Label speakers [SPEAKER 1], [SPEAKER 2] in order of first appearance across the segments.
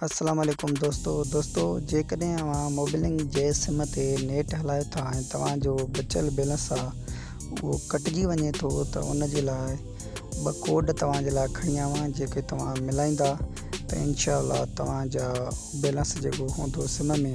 [SPEAKER 1] السلام عليڪم دوستو دوستو جيڪڏهن اوهان موبلنگ جي سم تي نيٽ هلايو ٿا ۽ توهان جو بچيل بيلنس آ اهو ڪٽجي وڃي ٿو ته ان جي لاء ٻه ڪوڊ توهان جي لاء کڻي آيو آهيان جيڪي توهان ملائيندا ته انشاء الله توهان جا بيلنس جيڪو هوندو سم ۾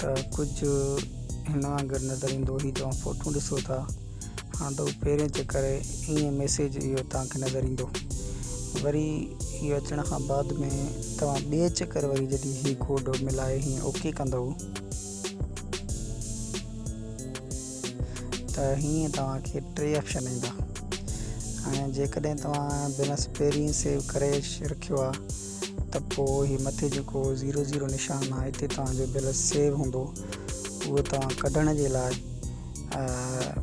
[SPEAKER 1] ته ڪجهه هن وانگر نظر ايندو هي توهان فوٽون ڏسو ٿا هاڻ ته پهرين چيڪ ڪري ائين ميسيج اهو توهان کي نظر ايندو وري هي اچڻ کان بعد ۾ توهان ٻئي چڪر وري جڏهن هي ڪوڊ ملائي هي اوڪي ڪندو ته هيئن توهان کي ٽي آپشن ايندا ۽ جيڪڏهن توهان بلنس پهرين سيو ڪري رکيو آهي ته پوء هي مٿي جيڪو زيرو زيرو نشان آهي هتي توهان جو بيلنس سيو هوندو اهو توهان ڪڍڻ جي لاء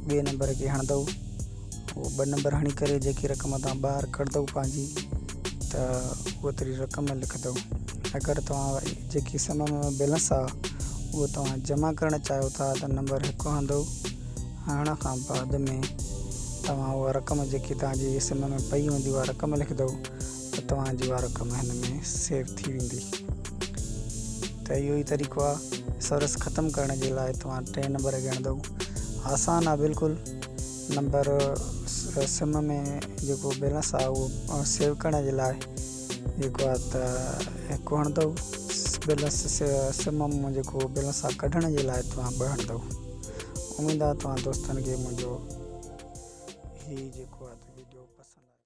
[SPEAKER 1] ٻئي نمبر کي هڻندو اهو ٻه نمبر هڻي ڪري جيڪي رقم توهان ٻاهر ڪڍندو پنهنجي ته اهو تري رقم لکندو اگر توهان جيڪي سم ۾ بيلنس آ اهو توهان جمع ڪرڻ چاهيو ٿا ته نمبر هڪ هڻندو هڻڻ کان بعد ۾ توهان اها رقم جيڪي توهان جي سم ۾ پئي هوندي اها رقم لکندو ته توهان جي اها رقم هن ۾ سيو ٿي ويندي ته اهو ئي طريقو آهي سرس ختم ڪرڻ جي لاء توهان ٽئين نمبر ڳڻندو آسان آهي بلڪل نمبر سم ۾ جيڪو بيلنس آهي اهو سيو ڪرڻ جي لاء جيڪو آهي ته هڪ هڻندو بيلنس سم مون جيڪو بيلنس آ ڪڍڻ جي لاء توهان ٻه هڻندو اميد آ توهان دوستن کي منهنجو هي جيڪو آ ويڊيو پسند